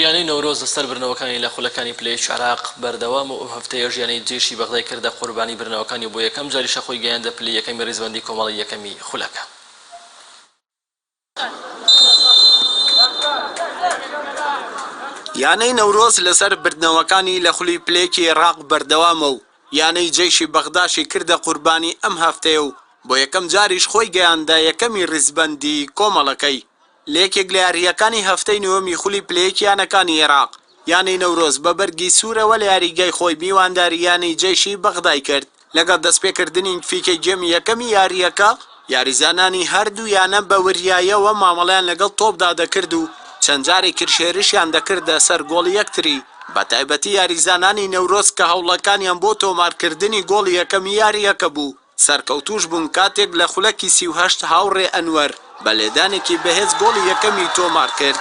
یانەی نەورۆز لە سەر برنەوەکانی لە خولەکانی پلە یەکی عێراق بەردەوامە و ئەو هەفتەیەش یانەی جەیشی بەغدای کردە قوربانی برنەوەکانی و بۆ یەکەم جاریشە خۆی گەیاندە پلەی یەکەمی ریزبەندی کۆمەڵەی یەکەمی خولەکە. یانەی نەورۆز لە سەر بردنەوەکانی لە خولی پلە یەکی عێراق بەردەوامە و یانەی جەیشی بەغداشی کردە قوربانی ئەم هەفتەیە و بۆ یەکەم جاریش خۆی گەیاندە یەکەمی ریزبەندی کۆمەڵەکەی لە یەکێک لە یارییەکانی هەفتەی نۆیەمی خولی پلەیەکی یانەکانی عێراق، یانەی نەورۆز بە بەرگی سوورەوە لە یاریگای خۆی میوانداری یانەی جەیشی بەغدای کرد، لەگەڵ دەستپێکردنی نتفیکەی گێمی یەکەمی یارییەکە، یاریزانانی هەردوو یانە بە وریاییەوە مامەڵەیان لەگەڵ تۆپدا دەکرد و چەند جارێکیش هێرشیان دەکردە سەر گۆڵی یەکتری، بەتایبەتی یاریزانانی نەورۆز کە هەوڵەکانیان بۆ تۆمارکردنی گۆڵی یەکەمی یارییەکە بوو. سەرکەوتووش بوون کاتێک لە خولەکی سی و هەشت هاوڕێ ئەنوەر بە لێدانێکی بەهێز گۆڵی یەکەمی تۆمار کرد.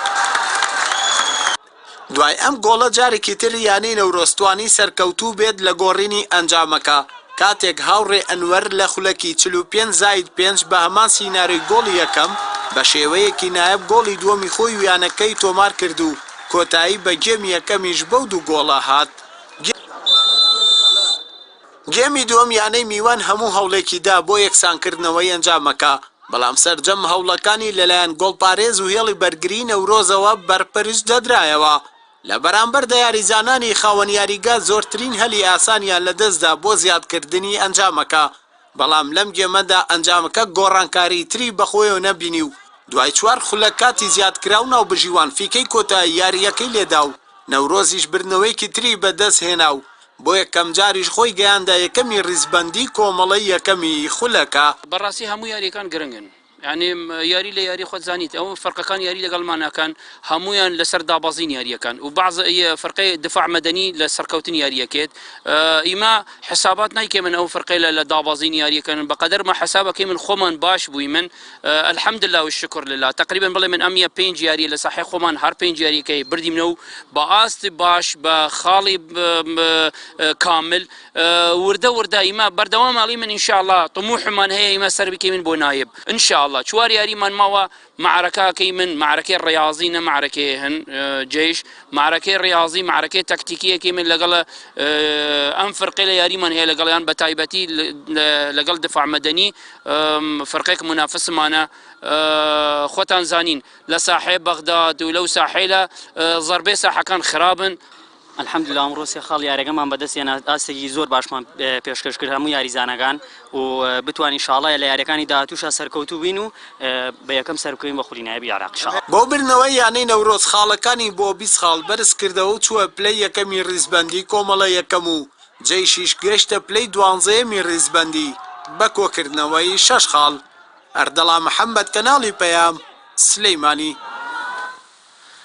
دوای ئەم گۆڵە جارێکی تر یانەی نەورۆز توانی سەرکەوتوو بێت لە گۆڕینی ئەنجامەکە کاتێک هاوڕێ ئەنوەر لە خولەکی چل و پێنج زائید پێنج بە هەمان سیناریۆی گۆڵی یەکەم بە شێوەیەکی نایاب گۆڵی دووەمی خۆی و یانەکەی تۆمار کرد و کۆتایی بە گێمی یەکەمیش بەو دوو گۆڵە هات. گێمی دووەم یانەی میوان هەموو هەوڵێکی دا بۆ یەکسانکردنەوەی ئەنجامەکە، بەڵام سەرجەم هەوڵەکانی لەلایەن گۆڵپارێز و هێڵی بەرگریی نەورۆزەوە بەرپەرچ دەدرایەوە، لە بەرامبەردا یاریزانانی خاوەن یاریگا زۆرترین هەلی ئاسانیان لەدەستدا بۆ زیادکردنی ئەنجامەکە، بەڵام لەم گێمەدا ئەنجامەکە گۆڕانکاریی تری بەخۆیەوە نەبینی و دوای چوار خولەک کاتی زیادکراو ناوبژیوان فیکەی کۆتایی یارییەکەی لێدا و نەورۆزیش بردنەوەیەکی تری بەدەستهێنا و بۆ یەکەم جاریش خۆی گەیاندە یەکەمی ریزبەندی کۆمەڵەی یەکەمی خولەکە. بەڕاستی هەموو یاریەکان گرنگن یانی یاری لە یاری خۆت زانیت ئەوە فەرقەکان یاری لەگەڵ ماناکان هەموویان لەسەر دابەزین یاریەکان و بەعز ی فەرقەی دفاع مەدەنی لە سەرکەوتن یاریەکێت ئیمە حسابات نایکەمن ئەو فەرقەی لە لە دابەزین یاریەکەن بەقەدەر مە حسابەکەی من خۆمان باش بوویمن الحمداللە والشکر للە تقریبا بڵێ من ئەم یە پێنج یاریە لە ساحەی خۆمان هەر پێنج یاریەکەی بردیمنە و بە ئاست باش بە خاڵی کامل وردە وردە ئیمە بەردەوام ئەڵی من انشاءاللە طموحمان هەیە ئیمە سەر بکەی من بۆ نایب انشاءاللە چوار یاریمان ماوە معرەکەکەی من معرەکەی ڕاضی نە معرەکەی هەن جێش معرەکەی ڕاضی معرەکەی تەکتیکیەکی من لەگەڵ ئەم فرقی لە یاریمان هەیە لەگەڵیان بە تایبەتی لەگەڵ دفاع مەدەنی فرقەیەک مونافسمانە خۆتان زانین لە ساحەی بەغداد و لەو ساحەیلە زەربەی ساحەکان خرابن الحمد لله ئەمڕۆ سێ خاڵ یارەکەمان بەدەست هێنا ئاستێکی زۆر باشمان پێشکەش کرد هەموو یاریزانەکان و بتوانین شاڵایە لە یاریەکانی داهاتوشا سەرکەوتوو بین و بە یەکەم سەرکەوین بە خولی نایبی عێراق شا بۆ بردنەوەی یانەی نەورۆز خاڵەکانی بۆ بیست خاڵ بەرز کردەوە و چووە پلەی یەکەمی ڕیزبەندی کۆمەڵە یەکەم و جەیشیش گەیشتە پلەی دوانزەیەمی ریزبەندی بە کۆکردنەوەی شەش خاڵ. ئەردەڵا محەممەد، کەناڵی پەیام، سلێمانی.